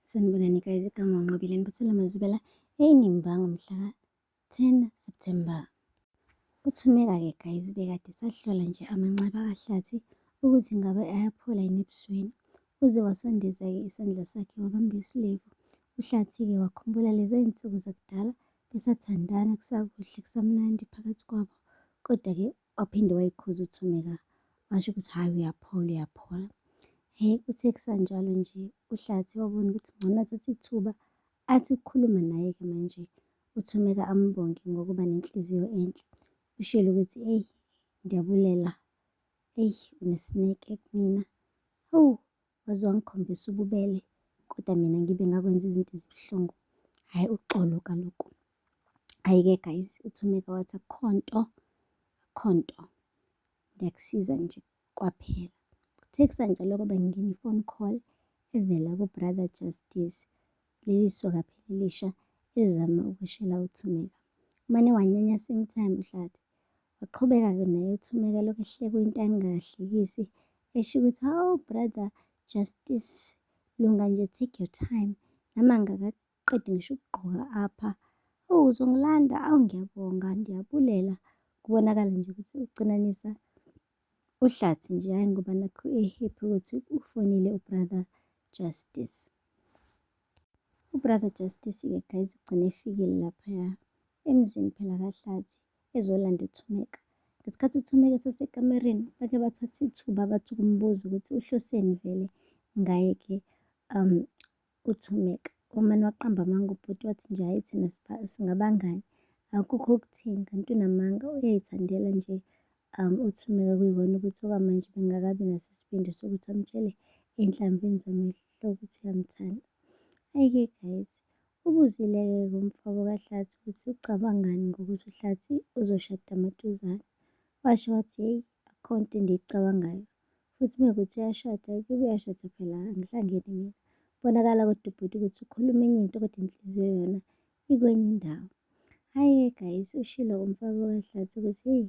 Sanibonani guys, igama uNqobile Nibethela Mazubela eyinimbango mhla 10 September. Uthumeka-ke guys bekade sahlola nje amanxeba kahlathi ukuthi ngabe ayaphola yini ebusweni. Uze wasondeza-ke isandla sakhe wabamba isilevu. Uhlathi-ke wakhumbula lezi zinsuku zakudala besathandana kusakuhle kusamnandi phakathi kwabo. Kodwa-ke waphinde wayikhuza uthumeka washo ukuthi hhayi uyaphola uyaphola hhayi kuthe kusanjalo nje uhlathi wabona ukuthi ngcono athathe ithuba athi ukukhuluma naye-ke manje uthumeka ambonge ngokuba nenhliziyo enhle ushilo ukuthi eyi ndiyabulela eyi unesineke kumina hawu waze wangikhombisa ububele kodwa mina ngibe ngakwenza izinto ezibuhlungu hhayi uxolo kaloku hhayi-ke guys uthumeka wathi akukho nto akukho nto ngiyakusiza nje kwaphela kuthe kusanjalo-ke bengingena i-phone call evela kubrother justice leli soka phela elisha elizama ukweshela uThumeka. Umane wanyanya same time uHlathi. Waqhubeka-ke naye uThumeka lokhu ehleka into angahlekisi esho ukuthi hawu brother justice lunga nje take your time nami angakaqedi ngisho ukugqoka apha oh uzongilanda awu ngiyabonga ndiyabulela kubonakala nje ukuthi ucinanisa uhlathi nje hhayi ngoba nakho ehappy ukuthi ufonile ubrother justice ubrother justice-ke guys ugcine efikile laphaya emzini phela kahlathi ezolanda uthumeka ngesikhathi uthumeka esesekamereni bake bathatha ithuba bathi ukumbuza ukuthi uhloseni vele ngaye-ke um uThumeka. Wamane waqamba amanga ubhuti wathi nje hhayi thina singabangani akukho okutheni kanti unamanga uyayithandela nje um uThumeka kuyikona ukuthi okwamanje bengakabi naso isibindi sokuthi amtshele enhlamvini zamehlo ukuthi uyamthanda. Ayike guys ubuzile-ke kumfabo kahlathi ukuthi ucabangani ngokuthi uhlathi uzoshada amaduzane washo wathi hheyi akhonto endiyicabangayo futhi uma kuwukuthi uyashada ayikho uyashada phela angihlangene mina. Kubonakala kodwa ubhuti ukuthi ukhuluma enye into kodwa inhliziyo yona ikwenye indawo. Hhayi-ke guys ushilo umfaka kahlathi ukuthi heyi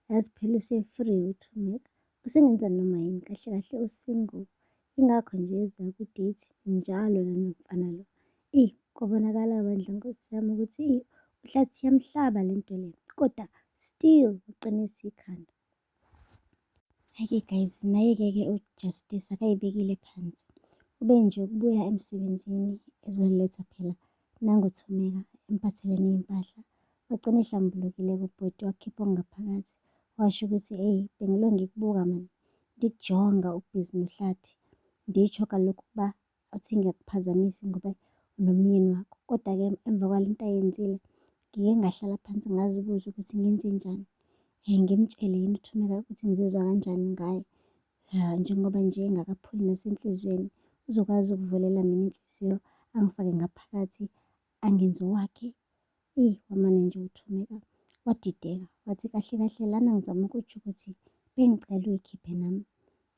yazi phela use-free uthumeka usengenza noma yini kahle kahle usingle ingakho nje eza kwi-date njalo nanomfana lo. Eyi kwabonakala bandla nkosi yami ukuthi uhlathi yamhlaba le nto le kodwa still uqinisa ikhanda. Hake guys, naye-ke ke uJustice akayibekile phansi. Ube nje ukubuya emsebenzini ezoletha phela nangothumeka emphathele ney'mpahla. Wagcina ehlambulukile kubhuti wakhipha okungaphakathi. Washo ukuthi eyi bengilo ngikubuka mani, ndikujonga ubhizi nohlathi. Nditsho kalokhu ukuba futhi ngiyakuphazamisi ngoba unomyeni wakho. Koda-ke emva kwale nto ayenzile ngike ngahlala phansi ngazibuza ukuthi ngenzenjani, ngimtshele yini uThumeka ukuthi ngizizwa kanjani ngaye njengoba nje engakapholi nasenhlizweni. Uzokwazi ukuvulela mina inhliziyo angifake ngaphakathi angenzi owakhe eyi wamane nje uthumeka wadideka wathi kahle kahle lana ngizama ukutsho ukuthi bengicela uyikhiphe nami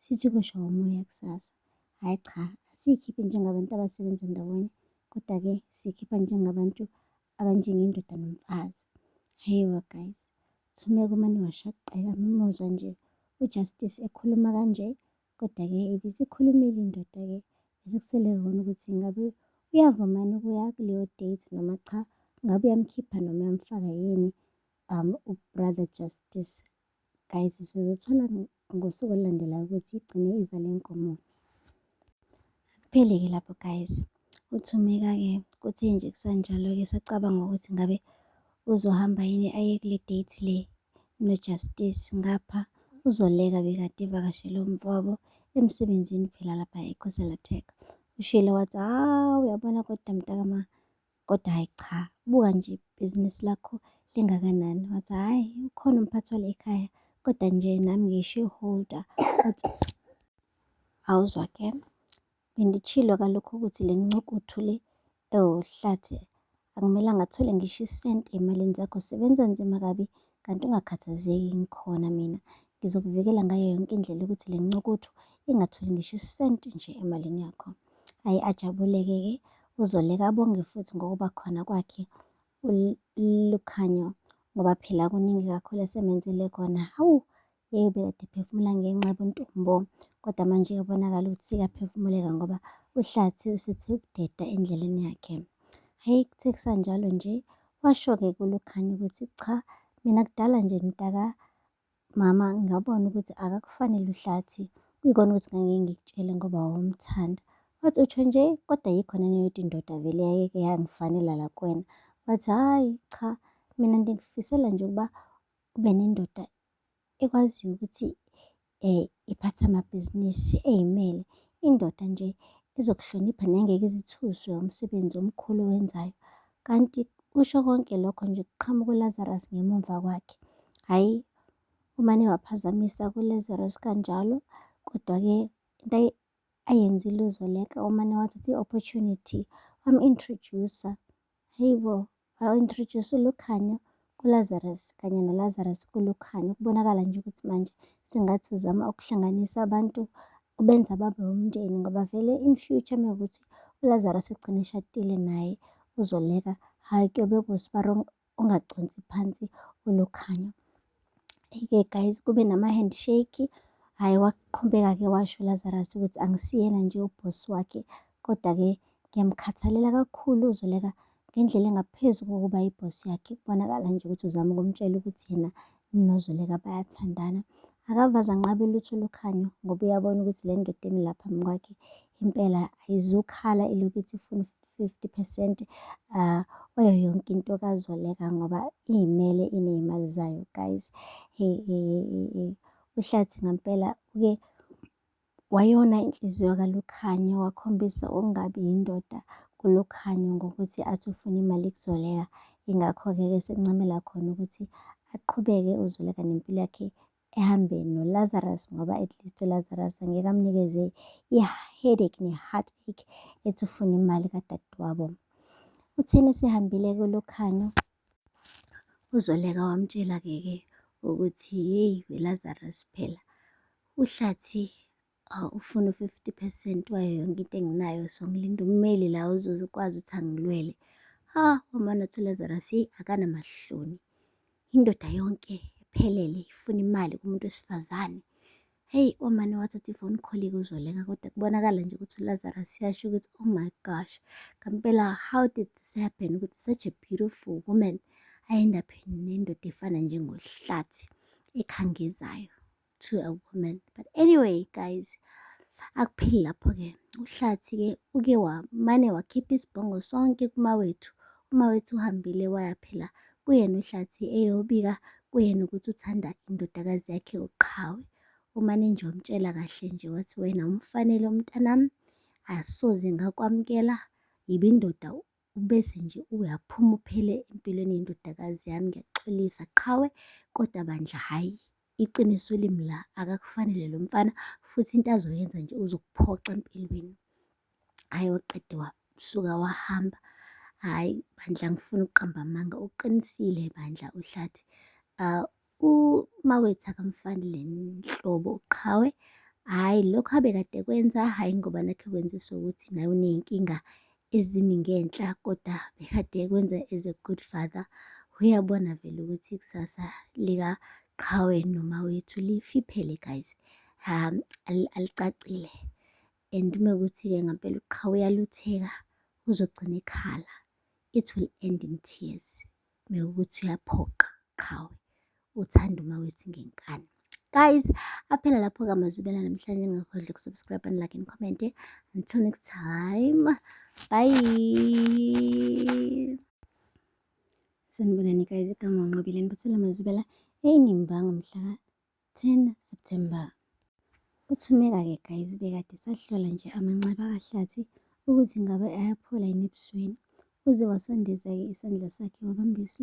sithi kusho umoya kusasa hhayi cha asiyikhiphi njengabantu abasebenza ndawonye kodwa-ke siyikhipha njengabantu abanjengendoda nomfazi hhayiwa guys thumeka umane washaqeka mimuzwa nje ujustice ekhuluma kanje Kodwa-ke ibisikhulumile indoda-ke besikusele kona ukuthi ngabe uyavuma yini ukuya kuleyo date noma cha, ngabe uyamkhipha noma uyamfaka yini um uBrother Justice. Guys, sizothola ngosuku olulandelayo ukuthi igcine iza le nkomo. Akuphele-ke lapho guys. UThumeka-ke kuthe nje kusanjalo-ke esacabanga ukuthi ngabe uzohamba yini aye kule date le noJustice ngapha uzoleka bekade evakashele umfowabo emsebenzini phela lapha ekhosela tech ushilo wathi hawu uyabona kodwa mntakama kodwa hhayi cha buka nje ibhizinisi lakho lingakanani wathi hhayi ukhona umphathi wale ekhaya kodwa nje nami ngishareholder wathi awuzwa ke Benditshilo kaloku ukuthi le ncukuthu le ewuhlathi akumelanga athole ngisho isenti emalini zakho. Sebenza nzima kabi kanti ungakhathazeki ngikhona mina. Ngizokuvikela ngayo yonke indlela ukuthi le ncukuthu ingatholi ngisho isenti nje emalini yakho. Ayi ajabuleke-ke uZoleka abonge futhi ngokuba khona kwakhe uLukhanyo ngoba phela kuningi kakhulu esemenzele kona. Hawu, Yeyi ubekade ephefumula ngenxa yobuntombo kodwa manje uyabonakala ukuthi sekaphefumuleka ngoba uhlathi usethi ukudeda endleleni yakhe. Hhayi kuthe kusanjalo nje washo-ke kuLukhanya ukuthi cha mina kudala nje mntaka mama ngabona ukuthi akakufanele uhlathi kuyikona ukuthi ngangeke ngikutshele ngoba wawumthanda. Wathi utsho nje kodwa yikho naneyodwa indoda vele yayeke yangifanela la kuwena. Wathi hhayi cha mina ngikufisela nje ukuba ube nendoda ekwaziyo ukuthi iphathe amabhizinisi eyimele, indoda nje ezokuhlonipha nengeke ize ithuswe umsebenzi omkhulu owenzayo. Kanti kusho konke lokho nje kuqhamuka uLazarus ngemumva kwakhe. Hhayi, umane waphazamisa kuLazarus kanjalo kodwa-ke into ayenzile uZoleka umane wathatha i-opportunity wamu-introduce-a, hhayi bo. Bawu-introduce uLukhanyo kuLazarus kanye noLazarus kuLukhanyo. Kubonakala nje ukuthi manje sengathi uzama ukuhlanganisa abantu ubenza babe umndeni ngoba vele in future mekuthi uLazarus ugcine eshadile naye uzoleka hhayi kuyobe kusibarongo ungaconsi phansi uLukhanyo. Ike guys kube nama-handshake, hhayi waqhubeka-ke washo uLazarus ukuthi angisiyena nje ubhosi wakhe kodwa-ke ngiyamkhathalela kakhulu uZoleka ngendlela engaphezu kokuba ibhosi yakhe. Kubonakala nje ukuthi uzama ukumtshela ukuthi yena noZoleka bayathandana. Akavaze anqabe lutho olukhanyo ngoba uyabona ukuthi le ndoda emi lapha phambi kwakhe impela ayizukhala ilokhu ithi ifuna fifty phesenti kuyo yonke into kaZoleka ngoba iy'mele iney'mali zayo guys. UHlathi ngampela uke wayona inhliziyo kaLukhanya wakhombisa ukungabi yindoda kuLukhanya ngokuthi athi ufuna imali kuZoleka. Ingakho-ke ke sekuncamela khona ukuthi aqhubeke uZoleka nempilo yakhe ehambe noLazarus ngoba at least uLazarus angeke amnikeze i-headache ne-heartache ethi ufuna imali kadadewabo utheni sihambile kulokhanyo uzoleka wamtshela-ke ke ukuthi yeyi welazarus phela uhlathi ufuna u-fifty percent wayo yonke into enginayo so ngilinda ummeli la ozokwazi ukuthi angilwele. Hha, wamane wathi uLazarus hheyi akanamahloni, indoda yonke iphelele ifuna imali kumuntu wesifazane. Hheyi, wamane wathatha i-phone call-ke uZoleka kodwa kubonakala nje ukuthi uLazarus uyasho ukuthi oh my gosh, ngempela how did this happen ukuthi such a beautiful woman I end up nendoda efana njengohlathi ekhangezayo. to a woman but anyway guys akupheli lapho-ke uhlathi-ke uke wamane wakhipha isibhongo sonke kumawethu umawethu uhambile waya phela kuyena uhlathi eyobika kuyena ukuthi uthanda indodakazi yakhe uqhawe umane nje wamtshela kahle nje wathi wena umfanele umntanami asoze ngakwamukela yiba indoda ubese nje uyaphuma uphele empilweni yendodakazi yami ngiyaxolisa qhawe kodwa bandla hhayi iqiniso limi la akakufanele lo mfana futhi into azoyenza nje uzokuphoxa empilweni hhayi waqede wasuka wahamba hhayi bandla ngifuna ukuqamba amanga uqinisile bandla uhlathi uh, Uma wethu akamfanele nhlobo uqhawe, hhayi lokho abekade ekwenza, hhayi ngoba nakhu ekwenziswa ukuthi naye uney'nkinga ezimi ngenhla koda bekade ekwenza as a good father. Uyabona vele ukuthi ikusasa likaqhawe noma wethu lifiphele guys, alicacile and uma kuwukuthi-ke ngampela uqhawe uyalutheka uzogcina ekhala, it will end in tears. Mewukuthi uyaphoqa qhawe uthanda uma wethi ngenkani guys aphela lapho ke amazwibela namhlanje ningakhohlwa ukusubscribe and like and comment until next time bye sanibonani guys igama unqobile nibuthela amazwibela eyinimbango mhla 10 September. Uthumeka-ke guys bekade sahlola nje amanxeba kahlathi ukuthi ngabe ayaphola yini ebusweni uze wasondeza-ke isandla sakhe wabambisa